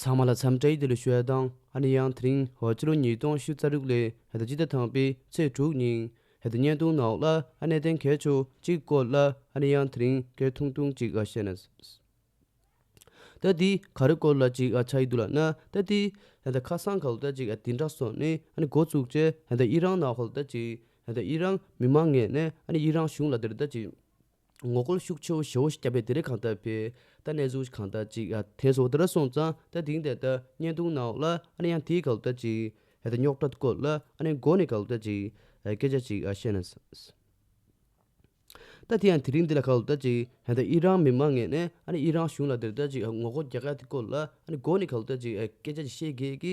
ཚང་མ་ལ་འཚམས་འདྲའི་འདི་ལོའི་ཞོལ་གདང་ཨ་ནེ་ཡང་དེ་རིང་བོད་ཕྱི་ལོ་ཉིས་སྟོང་བཞི་རྩ་དྲུག་ལོའི་ཧའེ་ད་སྤྱི་ཟླ་དང་པའི་ཚེས་དྲུག་ཉིན་ཧའེ་ད་བརྙན་ཐུང་ནག་ལ་ཨ་ནེ་བསྟན་མཁས་མཆོག་གཅིག་བཀོད་ལ་ཨ་ནེ་ཡང་དེ་རིང་སྐད་ཐུང་ཐུང་གཅིག་ཨ་བཤད་ན་ཟེར། ད་དེའི་ག་རེ་བཀོད་ལ་གཅིག་ཨ་ཆགས་ཡི་འདུག་ལ་ན་ད་དེ་ཧའེ་ད་ཁ་སང་ག་ལོ་ད་གཅིག་ཨ་དེ་འདྲ་སོང་ནས་ཨ་ནེ་འགོ་བཙུགས་རྗེས་ཧའེ་ད་ཨི་རང་ནག་ཧོ་ལ་ད་གཅིག་ཧའེ་ད་ཨི་རང་མི་མང་ངེས་ནས་ཨ་ནེ་ཨི་རང་གཞུང་ལ་དེར་ད་གཅིག། ངོ་རྒོལ་ཤུགས་ཆེ་བོ་ཞེ་བོ་ཞིག་བརྒྱབ་པས་དེ་རིང་གང་ལྟར་སྤེལ། ད་གནས་ཚུལ་གང་ལྟར་ཅིག་ཡ། དེ་སོགས་དེ་འདྲ་སོང་ཙང་ད་དེང་དེ་ལྟར་བརྙན་ཐུང་གནང་འོག་ལ་ཨ་ནེ་ཡང་དེའི་ག་ལོ་ལྟར་ཅིག་ཡ། ད་རྙོག་དྲ་བཀོད་ལ་ཨ་ནེ་མགོ་ནས་ག་ལོ་ལྟར་ཅིག་ཡ་སྐད་ཆ་ཅིག་བཤད་ན། ད་དེ་ཡང་དེ་རིང་འདི་ལ་ག་ལོ་ལྟར་ཅིག་ཡ། ད་དབྱི་རང་མི་མང་ངས་ནས་ཨ་ནེ་དབྱི་རང་གཞུང་ལ་དེ་ལྟར་ཅིག་ངོ་རྒོལ་རྒྱག་ག་དེ་བཀོད་ལ་ཨ་ནེ་མགོ་ནས་ག་ལོ་ལྟར་ཅིག་ཡ་སྐད་ཆ་ཅིག་བཤད་དགོས་ཀི་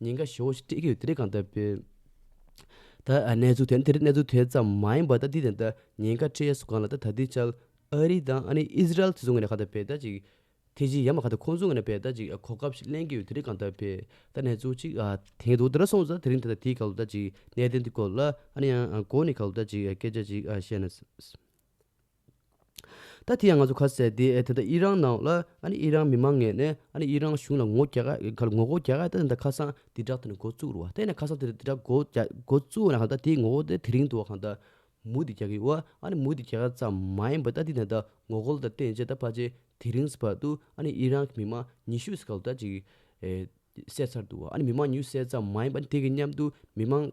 ཉེན་ཁ་ཞེ་བོ་ཞིག་སྤྲད་ཀྱི་ཡོད་དེ་རིགས་གང་ལྟར་དཔེར་ད་གནས་ཚུལ་དེ་ནི་དེ་རིགས་གནས་ཚུལ་དེ་ཙམ་མ་ཡིན་པར་ད་ལྟའི་དེ་ད་ཉེན་ཁ་སྤྲད་ཡས་སུ་གང་ལ་ད་ད་ལྟའི་ཆར་ཨ་རི་དང་ཨ་ནི་ཨིས་རལ་དེ་ཚོ་ངོས་ནས་གང་ལྟར་དཔེ་ད་ཅིག་ཐེ་ཇི་ཡ་མ་གང་ལྟར་ཁོང་ཚོ་ངོས་ནས་དཔེ་ད་ཅིག་གོ་སྐབས་ཤིག་གླེང་གི་ཡོད་དེ་རིགས་གང་ལྟར་དཔེ་ད་གནས་ཚུལ་ཅིག་དེང་དུ་འདི་འདྲ་སོང་ཙང་དེ་རིང་དེ་ད་དེའི་སྐབས་ལ་ད་ཅིག་གནད་དོན་དེ་སྐོར་ལ་ཨ་ནི་ཡང་གོ་ནས་གང་ལྟར་ད་ཅིག་སྐད་ཆ་ཅིག་བཤད་ན། ད་དེ་ཡང་ང་ཚོ་ཁ་གསལ་དེ་ཨེ་ད་ད་ཨི་རང་ནང་ལ་ཨ་ནི་ཨི་རང་མི་མང་ངས་ནས་ཨ་ནི་ཨི་རང་གཞུང་ལ་ངོ་རྒྱ་ག་ཨི་གར་ངོ་རྒོལ་རྒྱག་ཨེ་ད་ད་ཁ་སང་དེ་དྲག་དེ་ནས་འགོ་བཙུགས་རུ་བ་དེ་ནས་ཁ་སང་དེ་དྲག་འགོ་རྒྱ་འགོ་བཙུགས་ན་གང་ད་དེ་ངོ་རྒོལ་དེ་དེ་རིང་དུ་གང་ད་མུ་དེ་རྒྱག་གི་ཨོ་ཨ་ནི་མུ་དེ་རྒྱག་ཨེ་ཙམ་མ་ཡིན་པ་ད་དེ་ནས་ད་ངོ་རྒོལ་ད་བསྟན་རྗེས་ད་ཕར་ཆེ་དེ་རིང་སི་བར་དུ་ཨ་ནི་ཨི་རང་གི་མི་མང་ཉི་ཤུ་སི་ག་ལ་ད་ཅིག་ཨེ་བསད་ཚར་འདུག་བ་ཨ་ནི་མི་མང་ཉི་ཤུ་བསད་ཙམ་མ་ཡིན་པ་ཨ་ནི་དེ་གི་མཉམ་དུ་མི་མང།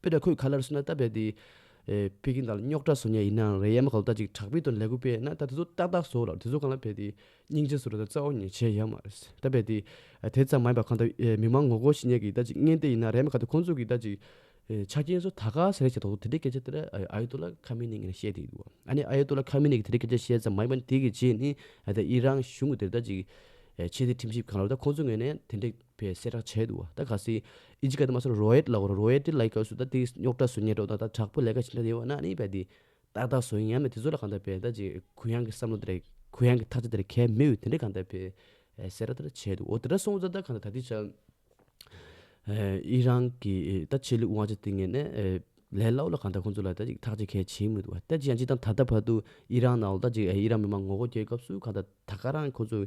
དཔེ་དག་ཁོས་ག་ལེར་སོན་ན་ལྟ་བས་དེ། ཕེ་ཀིན་དང་རྙོག་དྲ་བཟོ་ཉེས་ཡིན་ནའང་རེད་ཡ་མ་ག་ལོ་ལྟ་ཅིག་དྲག་པོའི་དོན་ལེགས་པོ་སྤེལ་ན་ལྟ་དེ་ཚོ་ཏག་ཏག་བཟོ་ལ་དེ་ཚོ་གང་ལ་ཕེ་དེ། སྙིང་རྗེ་བཟོ་རེ་ད་རྩ་བ་ཉེས་བྱས་ཡ་མ་རེད། ལྟ་བས་དེ། དེ་ཙམ་མ་ཡིན་པ་གང་ལྟ་མིག་མང་ངོ་རྒོལ་བྱེད་ཉེས་ཀྱི་ལྟ་ཅིག་བརྙན་དེ་ཡིན་ན་རེད་མ་ག་དེ་ཁོང་ཚོ་གི་ལྟ་ཅིག། ཆ་རྐྱེན་སོ་ད་ག་ཟེ་རེ་བྱས་ཐོག་ཏུ་དེ་འདྲའི་སྐད་ཆ་དེ་ར་ཨ་ཡེ་ཏོ་ལ་ཁ་མེ་ནེ་ངེ་ན་བཤད་དེ་འདུག་བ་ཨ་ནེ་ཨ་ཡེ་ཏོ་ལ་ཁ་མེ་ནེ་གི་དེ་འདྲའི་སྐད་ཆ་བཤད་ཙམ་མ་ཡིན་པ་དེ་གི་རྗེས་ནི་ཨ་ད་ཨི་རང་གཞུང་གི་དེ་ར་ལྟ་ཅིག། ཆེད་དེ་ཁྲིམས་ཞིབ་གང་ལ་ལོ་ད་ཁོང་ཚོ་ངོས་ནས་དེ་འདྲའི། བའི་སྲས་དྲག་ཆས་འདུག་ད་ག་སི། ཨི་ཇི་ཀ་ཏི་མ་སོ་རོ་ཨེད་ལ་གོ་རོ་རོ་ཨེད་ཏི་ལ་ཡི་ག་སུ་ད་ཏི་རྙོག་དྲ་སུ་ཉེ་དྲོ་ད་ད་དྲག་པོ་ལས་ཀ་བྱེད་འདྲ་དེ་བ་ན་ནི་བས་ཏི། ཏག་ཏག་བཟོ་ཡིན་ཡང་མེད་དེ་ཚོ་ལ་གང་འདྲ་བས་ད་ཅི་གུ་ཡངས་ཀྱི་བསམ་བློ་དེ་རེད་གུ་ཡངས་ཀྱི་ཐག་ཆ་དེ་རེད་གལ་མི་འོས་དེ་འདྲ་གང་འདྲ་བས། སྲས་དྲག་དྲག་ཆས་འདུག་འོ་དེ་འདྲ་སོང་ཙ་ད་གང་འདྲ་ད་ཏི་ཆ། ཨི་རང་གི་ད་ཆེད་ལུགས་དབང་ཆ་དེ་ངེས་ནས་ལས་སླ་བོ་ལ་གང་འདྲ་ཁོང་ཚོ་ལ་ད་ཅི་ཐག་ཆ་གལ་ཆེན་མི་འདུག་བ་ད་ཅི་ཡང་ཅི་དང་ད་ལྟ་བར་དུ་ཨི་རང་ནང་ལ་ད་ཅི་ཨི་རང་མི་མང་ངོ་རྒོལ་རྒྱག་སྐབས་སུ་གང་འདྲ་ད་ག་རང་གི་ཁོང་ཚོ།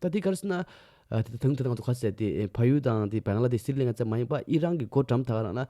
ད་ལྟའི་སྐར་ན། དེ་དང་དེ་དང་དུ་ཁ་གསལ་ཏེ་ཕ་ཡུལ་དང་དེ་བན་གླ་དེ་སིརི་ལན་ཀ་བཙན་མ་ཡིན་པ་ཨི་རན་གྱི་སྒོ་འགྲམ་དག་རང་ན།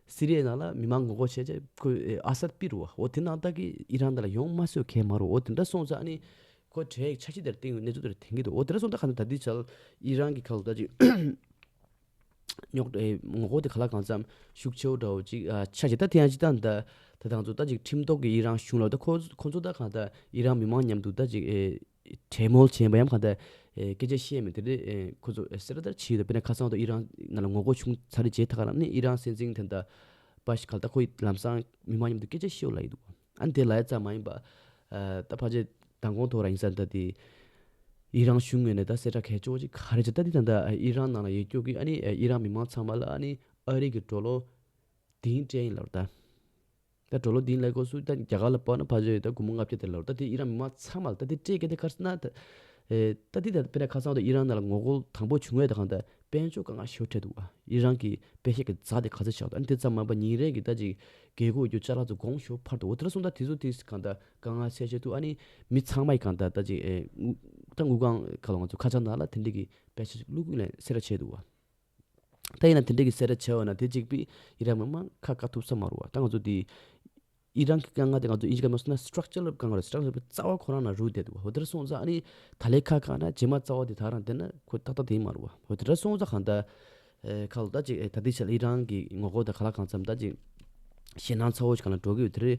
སི་རི་ཡའི་ནང་ལ་མི་མང་ངོ་རྒོལ་བྱས་རྗེས་ཁོས་ཨ་སད་པི་རུ་བ་འོ་དེ་ནང་བདག་གིས་ཨི་རན་དེ་ལ་ཡོང་མ་བཟོད་ཁའི་མ་རུ་འོ་དེ་འདྲ་སོང་ཙང་ནི། ཁོའི་གྲས་ཀྱི་ཆ་ཤས་དེར་བརྟེན་ཡོད་གནས་ཚུལ་དེར་དེང་གི་འདུག་འོ་དེ་འདྲ་སོང་ཙང་ཁ་ན་ད་ལྟའི་ཆར་ཨི་རན་གྱི་ཁ་ལོ་ད་ཅིག། རྙོག་དྲ་ངོ་རྒོལ་དེ་ག་ལ་གང་ཙམ་ཤུགས་ཆེ་བོ་འདྲ་བོ་ཅིག་ཆགས་རྗེས་ད་དེ་ཡང་ཅི་ལྟར་འདའ། ད་དང་ཚུར་ད་ཅིག་ཁྲིམས་ཐོག་གི་ཨི་རན་གཞུང་ལ་ད་ཁོ་ཁོ་ཚོ་ད་གང་ད་ཨི་རན་མི་མང་མཉམ་དུ་ད་ཅིག། གྲལ་མོལ་བྱས་པ་ཡམ་གང་འདྲ། སྐད་ཆ་བཤད་མི་དེ་རེད། ཁོ་ཚོ་སེ་ར་དར་ཕྱིན་ཡོད་པ་དཔེར་ན་ཁ་སང་འདུག་ཨི་རན་ནང་ལ་ངོ་རྒོལ་བྱུང་ཚར་རེད་བྱས་ཐག་རང་ནི་ཨི་རན་སྲིད་འཛིན་དེ་འདྲ། པ་ཞིག་ག་ལ་ད་ཁོ་ཡི་ལམ་སང་མི་མང་མཉམ་དུ་སྐད་ཆ་བཤད་འོ་ལ་ཡི་འདུག་ཨ་ནི་དེ་ལ་ཡ་ཙམ་མ་ཡིན་པ། ད་ཕར་ཆེར་མདང་དགོང་ཐོག་ར་ཡིན་ས་འདྲ་དེ། ཨི་རན་གཞུང་ངོས་ནས་ད་སེ་ར་གས་ཅོག་ཅིག་ག་རེ་བྱ་ད་དེ་དང་འདྲ་ཨི་རན་ནང་ལ་ཡེ་སྐྱོ་གི་ཨ་ནི་ཨི་རན་མི་མང་ཚང་མ་ལ་ཨ་ནི་ཨ་རིག་གི་འགྲོ་ལོ། དེ་ཡིན་དྲན་ཡིན་ལབ་ར་ད། ད་གྲོ་ལོ་དེའི་ལས་སྒོ་སུ་ད་རྒྱ་གར་ལ་སྤར་ན་ཕ་བཞི་ད་དགུ་མོ་ལྔ་བརྒྱ་དེ་ལོ་ད་དེ་ཨི་རན་མི་མང་ཚང་མ་ལ་ད་དེ་སྤྲད་ཀྱི་ད་ཁར་སྣ་ད། ད་དེ་ད་དཔེར་ན་ཁ་སང་ད་ཨི་རན་ནང་ལ་ངོ་རྒོལ་དང་པོ་བྱུང་བས་ད་གང་ད་དཔལ་མཆོག་དཀའ་ངལ་ཤོར་འཕྲད་འདུག་ཨ་ཨི་རན་གྱི་དཔེ་ཤེད་ཀྱི་རྫ་དེ་ག་ཚོད་ཆགས་འདུག་ཨ་དེ་ཙམ་མ་པ་ཉིན་རེ་གི་ད་ཅིག་རྒས་རྒུ་རྒྱུ་ལྕགས་ལ་ཚོ་དགོངས་ཞོར་ཕར་དུ་འོ་དེ་ལ་སོང་ད་དེ་ཚོ་དེ་གང་ད་དཀའ་ངལ་སེལ་བྱེད་དུ་ཨ་ནི་མི་ཚང་མ་ཡི་གང་ད་ད་ཅིག་ཨེ་དངུལ་ད་དངུལ་ཁང་ག་ལ་ང་ཚོ་ཁ་ཆགས་ན་ལ་དེ་འདྲི་གི་དཔེ་ཆ་ཅིག་བླུག་གི་ལན་སེ་ར་བྱས་འདུག་ཨ། ད་ཡིན་ན་དེ་འདྲ་གི་གསལ་སྒྲ་བྱས་བ་ན་དེ་གཅིག་པུས་ཡི་རངས་མི་མང་ཁ་བཀག་ཐུབ་ས་མ་རུང་བ་ད་ང་ཚོ་དེ་ཡི་རངས་ཀྱི་དཀའ་ངལ་དེ་ང་ཚོ་ཨིན་ཇི་ཀ་མ་སོ་ན Structure ལ་དཀའ་ངལ་རེད Structure པའི་རྩ་བ་ཁོ་རང་ན་རུལ་བསྡད་འདུག་བ་འོ་དེ་འདྲ་སོང་ཙང་ཨ་ནི་ད་ལས་ཁ་བཀག་ན་རྗེས་མ་རྩ་བ་དེ་དག་རང་བསྡད་ན་ཁོ་ཏག་ཏག་དེ་ཡིན་མ་རུང་བ་འོ་དེ་འདྲ་སོང་ཙང་གང་ལྟར་ཁ་ལོ་ད་ཅིག་ད་ལྟའི་ཆར་ཡི་རངས་ཀྱི་ངོ་རྒོལ་དང་ག་ལ་གང་འཚམས་ད་ཅིག་ཞེད་སྣང་ཚ་བོ་ཞིག་གང་ལ་འགྲོ་གི་ཡོད་དེ་རེད།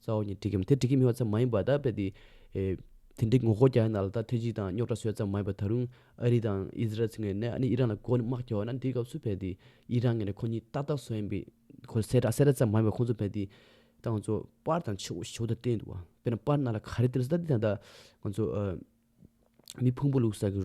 རྩ་བ་ཉིད་སྒྲིག་གམ་དེ་སྒྲིག་གི་མི་བ་ཙམ་མ་ཡིན་པར་དག་པས་ཏེ། དེ་འདྲའི་ངོ་རྒོལ་རྒྱག་ན་ལ་དྭགས་ཐེ་ཇི་དང་རྙོག་དྲ་བཟོས་ཙམ་མ་ཡིན་པར་ད་རུང་ཨ་རི་དང་ཨིས་རལ་ཚུན་ངེད་ནས་ཨ་ནི་ཨི་རན་ལ་མགོ་ནས་དམག་རྒྱག་བ་ན་འདིའི་སྐབས་སུ་བས་ཏེ་ཨི་རན་ངེད་ནས་ཁོ་གཉིས་ཏག་ཏག་བཟོ་ཡིན་པའི་ཁོ་གསལ་བསྒྲགས་གསལ་བསྒྲགས་ཙམ་མ་ཡིན་པར་ཁོང་ཚོ་བས་ཏེ། ད་ང་ཚོ་པར་དང་ཆུ་བོ་དང་བསྟན་འདུག་བ་དཔེར་ན་པར་སྣ་ལ་ག་རེ་བསྟན་ས་ད་འདི་དང་འདྲ། ང་ཚོ། མི་ཕུང་པོ་ལུག་ཟ་གི།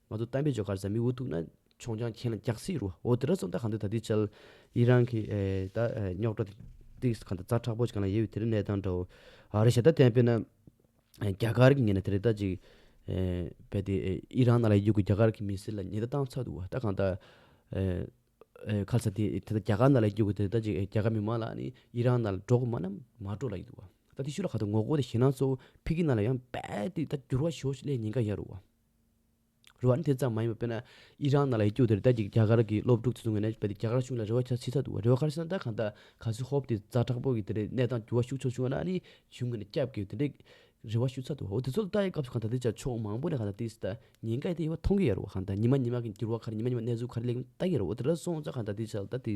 ང་ཚོ་གཏམ་དཔེ་བརྗོད་ཁར་བཟའ་མི་འུ་ཐུག་ན་ཆོང་རྐྱང་ཁྱེད་རང་འགྱག་སྲིད་རུ་ཨོ་དེ་ར་སོང་ད་གང་འདོད་ད་འདི་བྱལ། ཡི་རང་གི་ད་རྙོག་དྲ་དེ་གང་ད་རྩ་ཁྲག་པོ་ཅིག་གང་ལ་ཡེ་བའི་དེ་རིང་གནས་སྟངས་འདྲ་བོ། ཨ་རི་ཞེ་ད་དན་པེ་ན་རྒྱ་གར་གི་ངེད་ན་དེ་རེ་ད་ཅིག་བལ་ཏེ་ཡི་རང་ན་ལ་ཡི་གུ་རྒྱ་གར་གི་མི་སེར་ལ་ཉེ་ད་བཏང་ཚར་འདུག་ད་གང་ད་ཁ་ལ་ས་དེ་ད་རྒྱ་གར་ན་ལ་ཡི་གུ་དེ་རེ་ད་ཅིག་རྒྱ་གར་མི་མང་ལ་ནི་ཡི་རང་ན་ལ་འགྲོ་གི་མ་ན་མ་འགྲོ་ལ་ཡི་འདུག་བ། ད་དེ་ཤུ་ལ་ག་ད་ངོ་གོ་ད་ཞེ་ན་ཚོ་ཕི་གི་ན་ལ་ཡང་བལ་ཏེ་ད་འགྱུར་བ་ཞོ་ཞིག་སླེ་ཉེན་ཀ་ཡ་རུ་བ། རེ་བ་ནི་དེ་ཙམ་མ་ཡིན་པར་དཔེར་ན་ཨི་རན་ནང་ལ་ཡི་གེ་འུར་དེར་བལྟས་ཀྱིས་རྒྱ་གར་གྱི་སློབ་ཕྲུག་ཚོས་ངོས་ནས་བལྟས་ཏེ་རྒྱ་གར་གཞུང་ལ་རེ་བ་ཆགས་ཆེ་ཚ་འདུག་བ་རེ་བ་ཁ་ཤས་ན་ད་གང་ལྟར་ག་ཟེ་ཧོབ་དེ་རྫ་དྲག་པོ་གི་དེ་རེ་གནས་སྟངས་འགྱུར་བ་ཤུགས་ཆོག་བྱུང་བ་ན་ནི་གཞུང་ངོས་ནས་སྐྱབས་དགོས་དེ་འདྲའི་རེ་བ་ཞུ་ཚ་འདུག་བ་འོ་དེ་ཚོ་ལ་ལྟ་ཡི་སྐབས་སུ་གང་ལྟར་དེ་ཅག་ཕྱོགས་མང་པོ་ནས་གང་ལྟར་དེའི་སྟ་ཉེན་ཁ་ཡི་དེ་ཡི་བ་མཐོང་གི་ཡོད་རེད་བ་གང་ལྟར་ཉི་མ་ཉི་མ་གི་འགྱུར་བ་ག་རེ་ཉི་མ་ཉི་མ་གནས་ཚུལ་ག་རེ་ལེགས་མིན་ལྟ་གི་ཡོད་རེད་བ་དེ་འདྲ་སོང་ཙང་གང་ལྟར་དེའི་ཆ་ལ་ལྟ་དེ